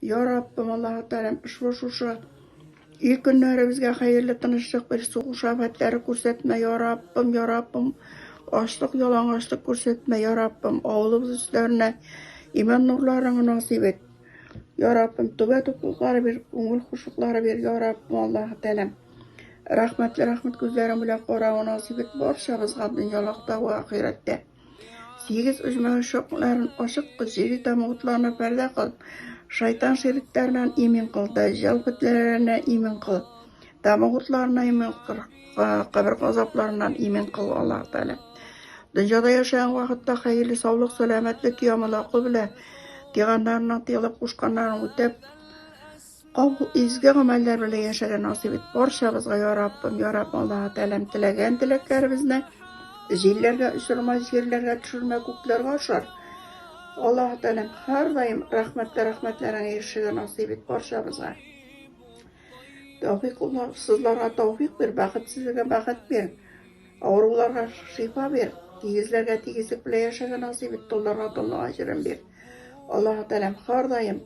Я Раббым, Аллаһы Тәгаләм, ошбу шушы ил көннәребезгә хәерле тынычлык бир, сугыш афәтләре күрсәтмә, я Раббым, я Раббым, ачлык, ялангачлык күрсәтмә, я Раббым, авылыбыз өсләренә иман нурларыңны насыйп ит. Я Раббым, түбә туклыклары бир, күңел хушуклары бир, я Раббым, Аллаһы Тәгаләм. Рәхмәтле рәхмәт күзләрең белән карауны насыйп ит барчабызга дөньялыкта вә ахирәттә. Тигез оҗмахы шокмларын ачык җире тамутларына пәрдә кыл. Шайтан ширикләреннән имин кыл, дәҗҗал фетнәләреннән имин кыл. Тамутларына имин кыл, кабер газапларыннан имин кыл Аллаһ Тәгалә. Дөньяда яшәгән вакытта хәерле саулык, сәламәтлек, ямалаку белән тиганнарның тыелып кушканнарын үтәп, Кабул изге гамәлләр белән яшәргә насыйп ит барчабызга, я Раббым, я Раббым, Аллаһы Тәгаләм, теләгән теләкләребезне җилләргә очырма, җирләргә төшермә, күкләргә ашар. Аллаһы Тәгаләм, һәрдаим рәхмәтле рәхмәтләреңә ирешергә насыйп ит барчабызга. Тәүфик сызларга тәүфик бир, бәхетсезләргә бәхет бир, авыруларга шифа бир, тигезләргә тигезлек белән яшәргә насыйп ит, толларга толлык аҗырын бир. Аллаһы Тәгаләм, һәрдаим